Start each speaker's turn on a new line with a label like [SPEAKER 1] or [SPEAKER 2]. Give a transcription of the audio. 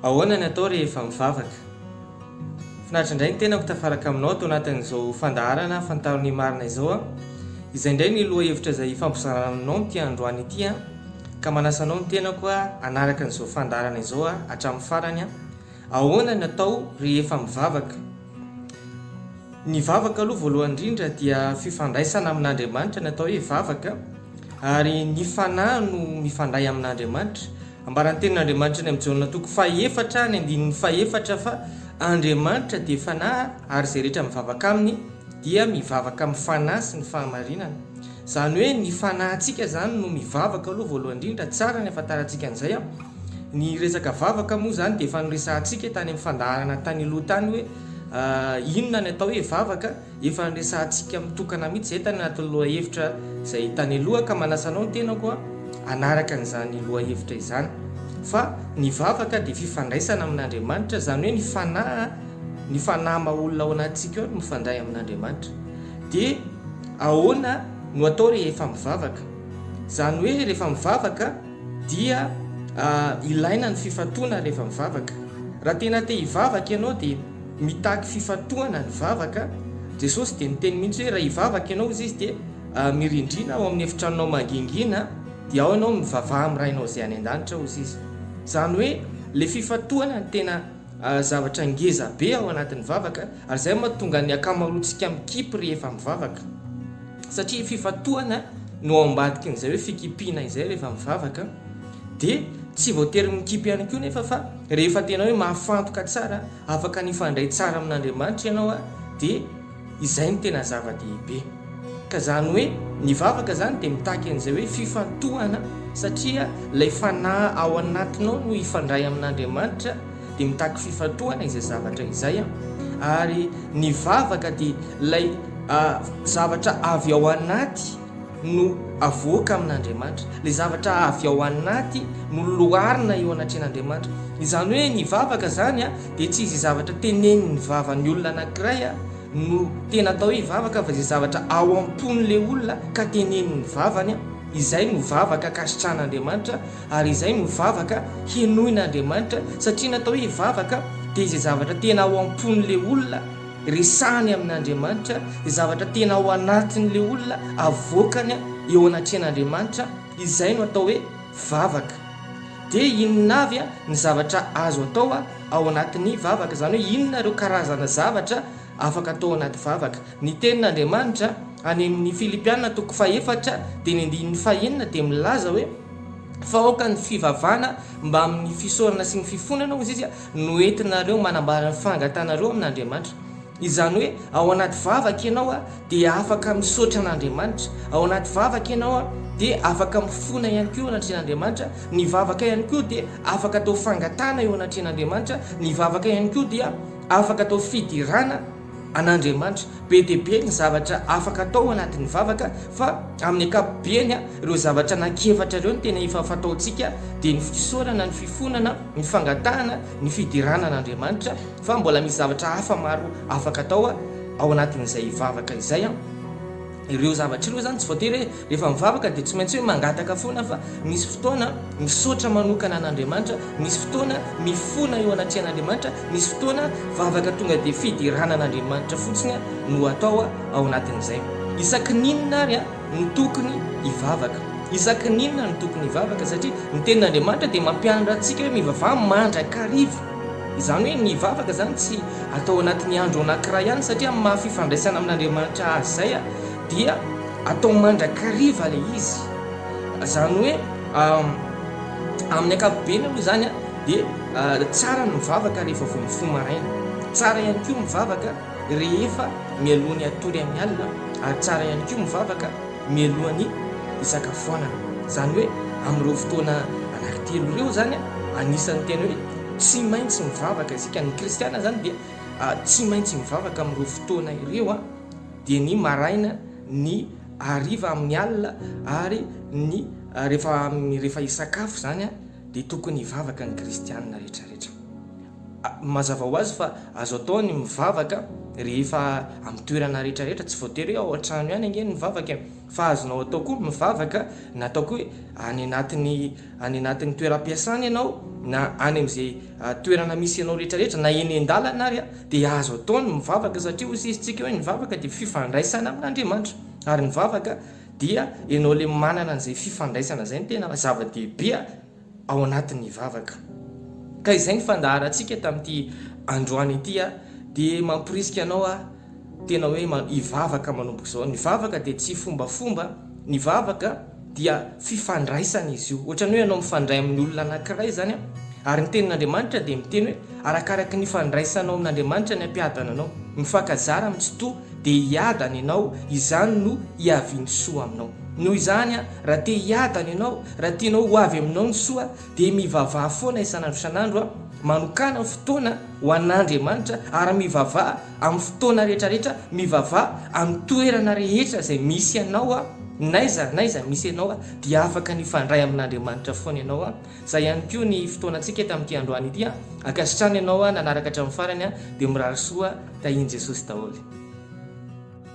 [SPEAKER 1] Ahoana ny atao rehefa mivavaka? Finaritra indray ny tenako tafaraka aminao ato anatin'izao fandaharana Fantaro ny marina izao aho. Izay indray ny lohahevitra izay hifampizarana aminao amin'ity androany ity aho, ka manasa anao ny tenako hanaraka an'izao fandaharana izao hatramin'ny farany aho. Ahoana ny atao rehefa mivavaka? Ny vavaka aloha voalohany indrindra dia fifandraisana amin'Andriamanitra ny atao hoe vavaka ary ny fanahy no mifandray amin'Andriamanitra. Ambaran'ny tenin'Andriamanitra any amin'ny Jaona toko fahefatra ny andininy fahefatra fa Andriamanitra dia fanahy ary izay rehetra mivavaka aminy dia mivavaka amin'ny fanahy sy ny fahamarinana. Izany hoe ny fanahintsika izany no mivavaka aloha voalohany indrindra, tsara ny ahafantarantsika an'izay an! Ny resaka vavaka moa izany dia efa noresahantsika tany amin'ny fandaharana tany aloha tany hoe inona ny atao hoe vavaka, efa noresahantsika mitokana mihitsy izay tany anatin'ny lohahevitra izay tany aloha ka manasa anao ny tenako hanaraka an'izany lohahevitra izany fa ny vavaka dia fifandraisana amin'Andriamanitra izany hoe ny fanahy ny fanahy maha olona ao anatintsika ao no mifandray amin'Andriamanitra dia Ahoana no atao rehefa mivavaka? Izany hoe rehefa mivavaka dia ilaina ny fifantohana rehefa mivavaka. Raha tena te hivavaka ianao dia mitaky fifantohana ny vavaka. Jesosy dia niteny mihitsy hoe raha hivavaka ianao hozy Izy dia mirindrina ao amin'ny efitranonao mangingina dia ao ianao mivavaha amin'ny Rainao izay any an-danitra hozy Izy. Izany hoe ilay fifantohana no tena zavatra ngeza be ao anatin'ny vavaka ary zay mahatonga ny akamaroantsika mikipy rehefa mivavaka satria fifantohana no ao ambadikin'izay hoe fikipiana izay rehefa mivavaka de tsy voatery mikipy ihany koa nefa fa rehefa tena hoe mahafantoka tsara afaka nifandray tsara amin'Andriamanitra ianao a de Izay no tena zava-dehibe. Ka izany hoe ny vavaka izany dia mitaky an'izay hoe fifantohana satria ilay fanahy ao anatinao no hifandray amin'Andriamanitra dia mitaky fifantohana izay zavatra izay ary ny vavaka dia ilay zavatra avy ao anaty no avoaka amin'Andriamanitra, ilay zavatra avy ao anaty no loarina eo anatrehan'Andriamanitra. Izany hoe ny vavaka izany dia tsy izay zavatra tenenin'ny vavan'ny olona anankiray no tena atao hoe vavaka fa izay zavatra ao am-pon'ilay olona ka tenenin'ny vavany, izay no vavaka kasitrahan'Andriamanitra ary izay no vavaka henoin'Andriamanitra satria ny atao hoe vavaka dia izay zavatra tena ao am-pon'ilay olona Resahany amin'Andriamanitra ny zavatra tena ao anatin'ilay olona, avoakany eo anatrehan'Andriamanitra, izay no atao hoe vavaka. Dia inona avy ny zavatra azo atao ao anatin'ny vavaka? Izany hoe inona ireo karazana zavatra afaka atao ao anaty vavaka? Ny tenin'Andriamanitra any amin'ny Filipiana toko fahefatra dia ny andininy fahenina dia milaza hoe, Fa aoka ny fivavahana mbamin'ny fisaorana sy ny fifonana, hoy izy, Noentinareo manambara ny fangatanareo amin'Andriamanitra. Izany hoe, ao anaty vavaka ianao dia afaka misaotra an'Andriamanitra. Ao anaty vavaka ianao dia afaka mifona ihany koa eo anatrehan'Andriamanitra. Ny vavaka ihany koa dia afaka atao fangatahana eo anatrehan'Andriamanitra. Ny vavaka ihany koa dia afaka atao fiderana. an'Andriamanitra. Be dia be ny zavatra afaka atao anatin'ny vavaka fa amin'ny ankapobeny ireo zavatra anankiefatra ireo no tena efa fataontsika dia ny fisaorana, ny fifonana, ny fangatahana, ny fiderana an'Andriamanitra fa mbola misy zavatra hafa maro afaka atao ao anatin'izay vavaka izay. Ireo zavatra ireo izany tsy voatery hoe rehefa mivavaka dia tsy maintsy hoe mangataka foana fa misy fotoana misaotra manokana an'Andriamanitra, misy fotoana mifona eo anatrehan'Andriamanitra, misy fotoana vavaka tonga dia fiderana an'Andriamanitra fotsiny no atao ao anatin'izay. Isaky ny inona ary no tokony hivavaka? Isaky ny inona no tokony hivavaka? Satria ny tenin'Andriamanitra dia mampianatra antsika hoe mivavaha mandrakariva. Izany hoe ny vavaka izany tsy atao anatin'ny andro anankiray ihany satria amin'ny maha fifandraisana amin'Andriamanitra azy izay dia atao mandrakariva ilay izy. Izany hoe amin'ny ankapobeny aloha izany dia tsara ny mivavaka rehefa vao mifoha maraina. Tsara ihany koa mivavaka rehefa mialoha ny hatory amin'ny alina ary tsara ihany koa mivavaka mialoha ny hisakafoanana. Izany hoe amin'ireo fotoana anankitelo ireo izany, anisan'ny tena hoe tsy maintsy mivavaka isika. Ny kristiana izany dia tsy maintsy mivavaka amin'ireo fotoana ireo, dia ny maraina, ny hariva amin'ny alina ary ny rehefa hisakafo izany dia tokony hivavaka ny kristiana rehetrarehetra. Mazava ho azy fa azo atao ny mivavaka rehefa amin'ny toerana rehetra rehetra, tsy voatery hoe ao an-trano ihany ange ny mivavaka e! Fa azonao atao koa ny mivavaka na ataoko hoe any anatin'ny any anatin'ny toeram-piasana ianao na any amin'izay toerana misy anao rehetra rehetra na eny an-dalana ary a! Dia azo atao ny mivavaka satria hoy sisintsika hoe ny vavaka dia fifandraisana amin'Andriamanitra ary ny vavaka dia ianao ilay manana an'izay fifandraisana izay no tena zava-dehibe a! ao anatin'ny vavaka. Ka izay ny fandaharantsika tamin'ity androany ity a! dia mamporisika anao aho tena hoe hivavaka manomboka izao. Ny vavaka dia tsy fombafomba, ny vavaka dia fifandraisana izy io. Ohatran'ny hoe ianao mifandray amin'ny olona anankiray izany a! ary ny tenin'Andriamanitra dia miteny hoe arakaraky ny ifandraisanao amin'Andriamanitra ny hampiadana anao. Mifankazara amin'ny tsitoha dia hiadana ianao, izany no hiavian'ny soa aminao. Noho izany, raha te hiadana ianao, raha tianao ho avy aminao ny soa, dia mivavaha foana isan'andro isan'andro, manokàna fotoana ho an'Andriamanitra, ary mivavaha amin'ny fotoana rehetrarehetra, mivavaha amin'ny toerana rehetra izay misy anao, n'aiza n'aiza misy ianao, dia afaka ny hifandray amin'Andriamanitra foana ianao. Izay ihany koa ny fotoanantsika eto amin'ity androany ity. Ankasitrahana ianao nanaraka hatramin'ny farany, dia mirary soa tahian'i Jesosy daholo.